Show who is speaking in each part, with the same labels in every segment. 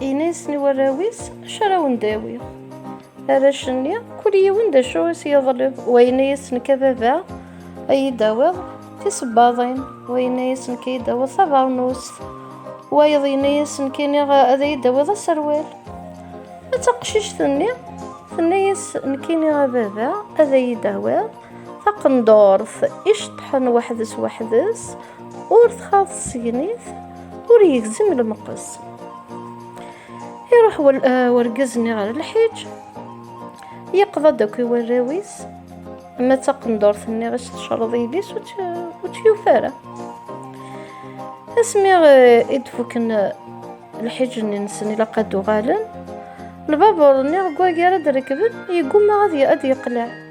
Speaker 1: Ini-yasen i warraw-is acu ara wen-d-awiɣ. Arrac-nni, kul yiwen d acu i s-yeḍleb, wa yenna-yas nekk a baba, a yi-d-tawiḍ tisebbaḍin, wa yenna-yas nekk a yi-d-tawiḍ tabeṛnust, wayeḍ yenna-yas nekk iniɣ ad yi-d-tawiḍ aserwal. A taqcict-nni, tenna-yas nekk iniɣ a baba ad yi-d-tawiḍ taqendurt iceṭṭḥen weḥd-s weḥd-s, ur txaḍ tsegnit ur yegzim lmeqqes iruḥ eh, wergaz-nni ɣer lḥiǧ yeqḍa-d akk i warraw-is ma d taqendurt-nni ɣas tecreḍ yelli-s ur tt-yufa ara asmi eh, i d-fuken eh, lḥiǧ-nni-nsen ilaq ad uɣalen lbabuṛ-nni deg wagar ad rekben yegguma ad yeqleɛ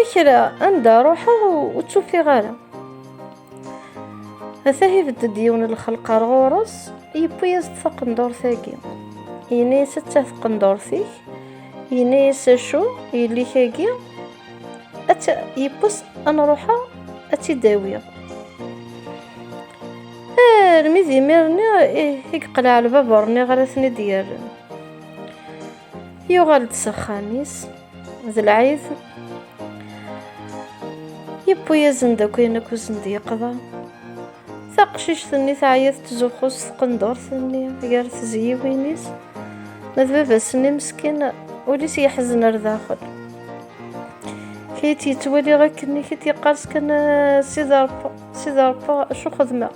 Speaker 1: Akra anda ruḥeɣ ur tt-ufiɣ ara. Ata ibedd-d yiwen n lxelq ar ɣur-s, yewwi-yas-d taqendurt-agi. Yenna-yas atta taqendurt-ik, yenna-yas acu yelli-k-agi, atta yewwi-s ad nruḥeɣ ad tt-id-awiɣ. Armi d imir-nni i yeqleɛ lbabuṛ-nni ɣer ad ten-id-yerren. yuɣal-d s axxam-is d lɛid yewwi-yasen-d akk ayen akk usen d yeqḍa taqcict-nni teɛya tettzuxxu s tqendurt-nni gar tezyiwin-is ma d baba-s-nni meskin ul-is yeḥzen ar daxel kayt yettwaliɣ akken i kit yeqqars kan sida rebba sida rebba acu xedmeɣ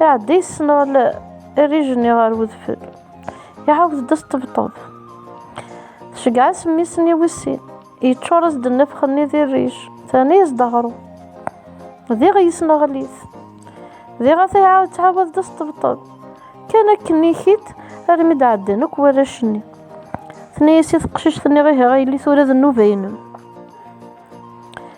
Speaker 1: Iɛedda yessenɣel rrij-nni ɣer wedfel. Iɛawed-d asṭebṭeb. Tceggeɛ-as mmi-s-nni wis sin. Yeččur-as-d nnefx-nni di rrij. Terna-yas-d aɣrum. Diɣ yesneɣel-it. Diɣ ata iɛawed ttɛawad-d asṭebṭeb. Kan akken ikit armi d-ɛeddan akk warrac-nni. Tenna-yas i teqcict-nni ihi a yelli tura d nnuba-inem.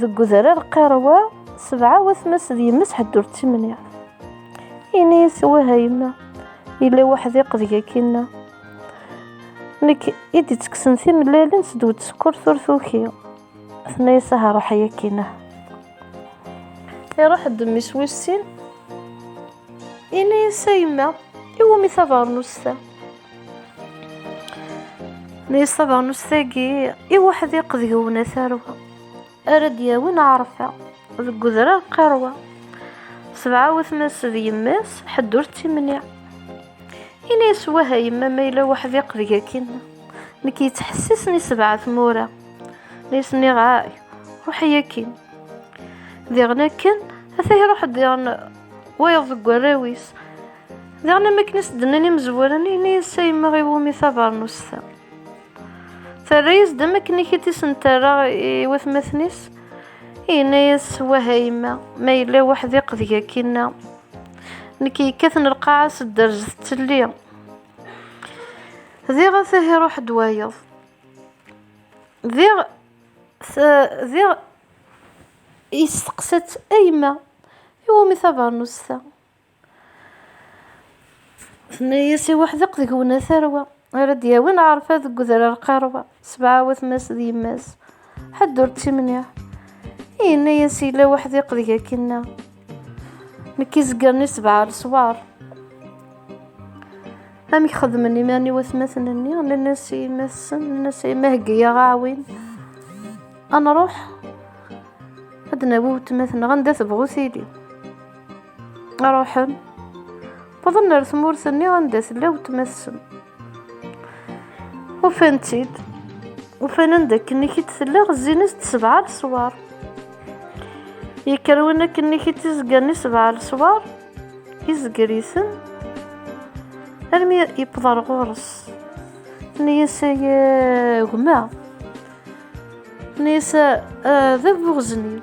Speaker 1: deg udrar qirwa sebɛa watmas d yemma ḥedd ur ttimniɛ ini-as wah a yemma yella waḥdiq deg akinna nekk i d-ittekksen timellalin s dwed sekkurt ur tuki tenna-yas aha ruḥ ay akinah iruḥ-d mmi-s wis sin ini-as a yemma iwumi tabeṛnust-a Nni ṣṣabernus tagi i weḥdiq deg wna tarwa ara d-yawin ɛerfa deg udrar qirwa sebɛa watma-s d yemma-s ḥedd ur tt-imniɛ ini-as wah a yemma ma yella weḥdiq deg akin nekk yettḥessisen i sebɛa tmura nni s-nniɣ ay ruḥ i akin diɣen akken ata iruḥ diɣen wayeḍ deg warraw-is Daɣen am akken i s-d-nnan imezwura-nni, yenna-yas a yemma i wumi tabernust-a. Terra-yas-d am akken i k-id-isenterra i watmaten-is, yenna-yas wah a yemma, ma yella weḥdiq deg akinna. Nekk yekkaten lqaɛa s dderz tettelli. Diɣ a tahi ruḥ-d wayeḍ. Diɣ, diɣ yesteqsa-tt a yemma, i wumi tabernust-a? Tenna-yas i weḥdeq deg-wen a tarwa, ara d-yawin ɛerfa deg udrar qerwa, sebɛa watma-s d yemma-s, ḥedd ur d-timniɛ. I yenna-yas yella weḥdiq deg akinna, nekk i zegren i sebɛa leswar. Amek xedmen iman-iw atmaten-nni, nenna-s i yemma-tsen, nenna-s a yemma heggi-yaɣ aɛwin, ad nruḥ ad d-nawi wetma-tneɣ anda tebɣu tili. Ruḥen. Wwḍen ar tmurt-nni anda tella wetma-tsen. Ufan-tt-id. Ufan anda akken i tella ɣezzin-as-d sebɛa leswar. Yekker win akken i t-izegren i sebɛa leswar, izger-iten, armi yewweḍ ar ɣur-s. Tenna-yas ay gma. Tenna-yas d bu ɣeznil.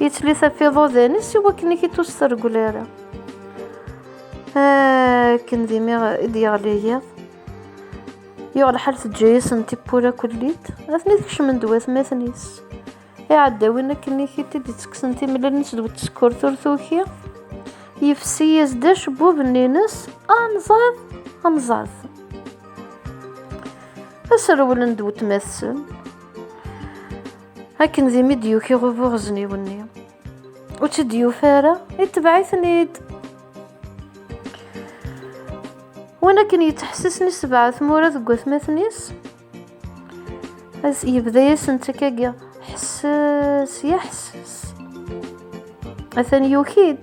Speaker 1: Yettli tafiḍudan-is i wakken i k-id-ur s-tergel ara. Akken d imi i d-yeɣli yiḍ, yuɣ lḥal teǧǧa-yasen tiwwura kullid, atni tkecmen-d watmaten-is. Iɛeddawin akken i k-id id-ittekksen timlal-nnes d wetsekkurt ur tuki, yefsi-yas-d acebbub-nni-nnes, anẓad, anẓad. Aserwel n d wetmat-sen. akken d imi d-yuki ɣubu ɣezniw-nni ur tt-id-yufa ara itebɛ-iten-id win akken yettḥessisen isebɛa tmura deg watmaten-is yebda-yasen ttakagiɣ ḥesses ya ḥesses atan yuki-d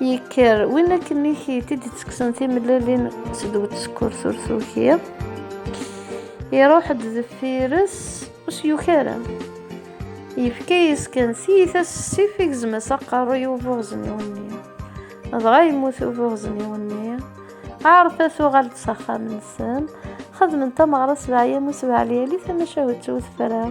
Speaker 1: Yekker win akken i t-id-ttekksen timellalin s dwet sekkurt ur tukiḍ. Iruḥ-d deffir-s ur s-yuki ara. Yefka-yas kan tiyita s ssif i gezma-s aqerruy ubuɣezniw-nni. Dɣa yemmut ubuɣezniw-nni. Ɛarfa tuɣal-d s axxam-nsen. Xedmen tameɣra s leɛyam u sebɛa lyali tamacahut twet fran.